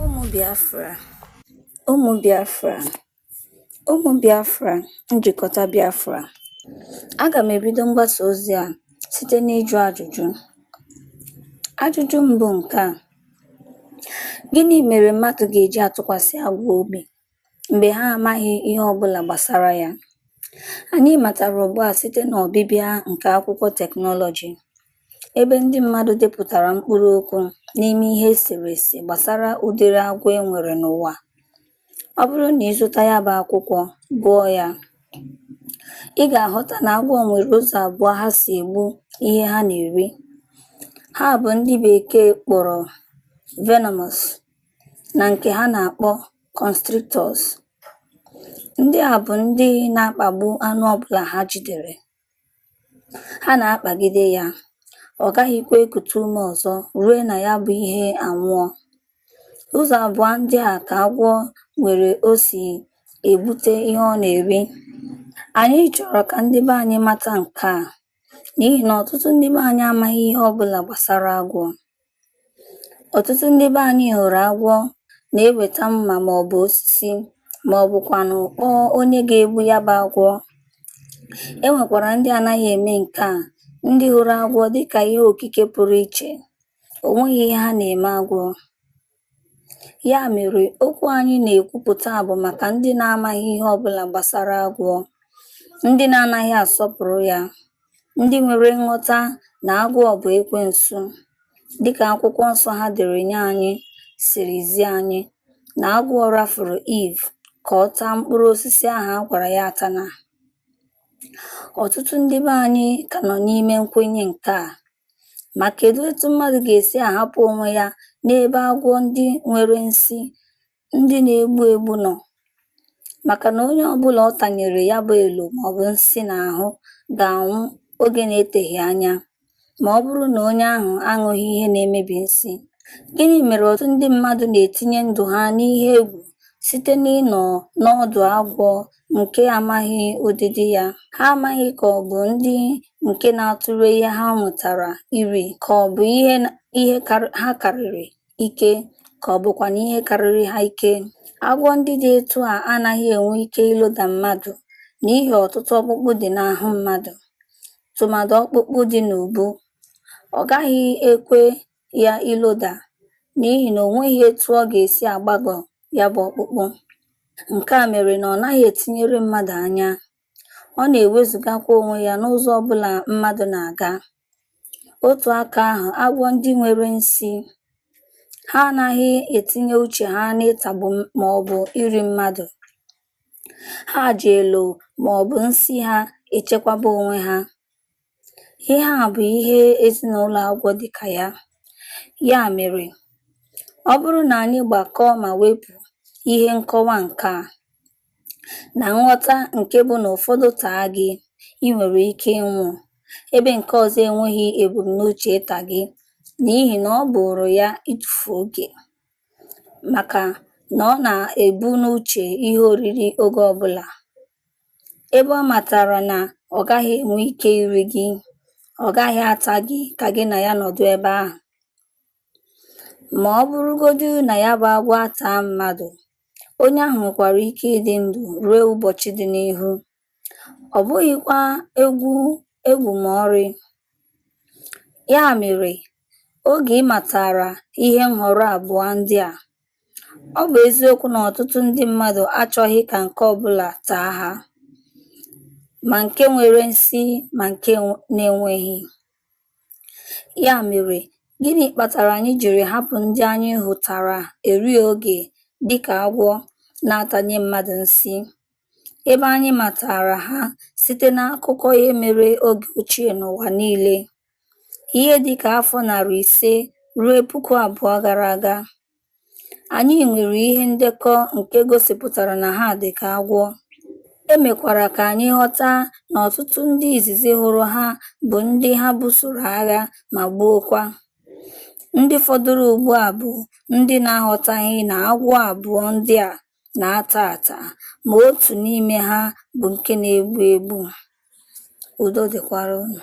Ụmụ Biafra, ụmụ Biafra, ụmụ Biafra, njikọta Biafra. Aga m ebido mgbasa ozi a site n'ịjụ ajụjụ. Ajụjụ mbụ nke a, gịnị mere mmadụ ga-eji atụkwasị agwọ obi? mgbe ha amaghị ihe ọ bụla gbasara ya. Anyị matara ugbu a site n'ọbịbịa nke akwụkwọ teknọlọjị, ebe ndị mmadụ depụtara mkpụrụ okwu n'ime ihe eserese gbasara ụdịrị agwọ e nwere n'ụwa. Ọ bụrụ na ị zụta ya bụ akwụkwọ, gụọ ya, ị ga-aghọta na agwọ nwere ụzọ abụọ ha si egbu ihe ha na-eri. Ha bụ ndị Bekee kpọrọ venomous. na nke ha na-akpọ constrictors. Ndị a bụ ndị na-akpagbu anụ ọbụla ha jidere. Ha na-akpagide ya, ọ gaghịkwa ekute ume ọzọ rue na ya bụ ihe anwụọ. Ụzọ abụọ ndị a ka agwọ nwere o si egbute ihe ọ na-eri. Anyị chọrọ ka ndị be anyị mata nke a n'ihi na ọtụtụ ndị be anyị amaghị ihe ọbụla gbasara agwọ. Ọtụtụ ndị be anyị hụrụ agwọ na-eweta mma maọbụ osisi maọbụkwanụ kpọọ onye ga-egbu ya bụ agwọ. E nwekwara ndị anaghị eme nke a, ndị hụrụ agwọ dịka ihe okike pụrụ iche. O nweghị ihe ha na-eme agwọ. Ya mere okwu anyị na-ekwupụta bụ maka ndị na-amaghị ihe ọbụla gbasara agwọ, ndị na-anaghị asọpụrụ ya, Ndị nwere nghọta na agwọ bụ ekwensu, dịka akwụkwọ nsọ ha dere nye anyị siri zi anyị na agwọ rafuru Eve ka ọ taa mkpụrụ osisi ahụ a gwara ya atana. Ọtụtụ ndị be anyị ka nọ n'ime nkwenye nke a. Ma kedu etu mmadụ ga-esi ahapụ onwe ya n'ebe agwọ ndị nwere nsi ndị na-egbu egbu nọ maka na onye ọbụla ọ tanyere ya bụ elo maọbụ nsi n'ahụ ga-anwụ oge na-eteghị anya ma ọ bụrụ na onye ahụ aṅụghị ihe na-emebi nsi. Gịnị mere ọtụtụ ndị mmadụ na-etinye ndụ ha n'ihe egwu site n'ịnọ n'ọdụ agwọ nke amaghị ụdịdị ya? Ha amaghị ka ọ bụ ndị nke na-atụrụ ihe ha nwụtara iri ka ọ bụ ihe ha karịrị ike ka ọ bụkwanụ ihe karịrị ha ike. Agwọ ndị dị etu a anaghị enwe ike iloda mmadụ n'ihi ọtụtụ ọkpụkpụ dị n'ahụ mmadụ, tụmadụ ọkpụkpụ dị n'ubu. Ọ gaghị ekwe ya iloda n'ihi na o nweghị etu ọ ga-esi agbagọ ya bụ ọkpụkpụ. Nke a mere na ọ naghị etinyere mmadụ anya. ọ na-ewezugakwa onwe ya n'ụzọ ọ bụla mmadụ na-aga. Otu aka ahụ, agwọ ndị nwere nsi, ha anaghị etinye uche ha n'ịtagbu m- ma ọ bụ iri mmadụ. Ha ji elo ma ọ bụ nsi ha echekwaba onwe ha. Ihe a bụ ihe ezinụlọ agwọ dị ka ya. Ya mere, ọ bụrụ na anyị gbakọọ ma wepụ ihe nkọwa nke a na nghọta nke bụ na ụfọdụ taa gị, ị nwere ike ịnwụ, ebe nke ọzọ enweghị ebumnuche ịta gị n'ihi na ọ bụụrụ ya ịtụfu oge maka na ọ na-ebu n'uche ihe oriri oge ọbụla. ebe ọ matara na ọ gaghị enwe ike iri gị, ọ gaghị ata gị ka gị na ya nọdụ ebe ahụ. Ma ọ bụrụgodu na ya bụ agwọ ataa mmadụ, onye ahụ nwekwara ike ịdị ndụ ruo ụbọchị dị n'ihu. Ọ bụghịkwa egwu egwu ma ọrị. Ya mere, oge ị matara ihe nhọrọ abụọ ndị a, Ọ bụ eziokwu na ọtụtụ ndị mmadụ achọghị ka nke ọ bụla taa ha, ma nke nwere nsi ma nke na-enweghị. Ya mere, gịnị kpatara anyị jiri hapụ ndị anyị hụtara eri oge dị ka agwọ na-atanye mmadụ nsi, ebe anyị matara ha site n'akụkọ ihe mere oge ochie n'ụwa niile? Ihe dị ka afọ narị ise ruo puku abụọ gara aga, anyị nwere ihe ndekọ nke gosipụtara na ha dị ka agwọ, e mekwara ka anyị ghọta na ọtụtụ ndị izizi hụrụ ha bụ ndị ha busoro agha ma gbuokwa. Ndị fọdụrụ ugbu a bụ ndị na-aghọtaghị na agwọ abụọ ndị a na-ata ata, ma otu n'ime ha bụ nke na-egbu egbu. Udo dịkwara unu.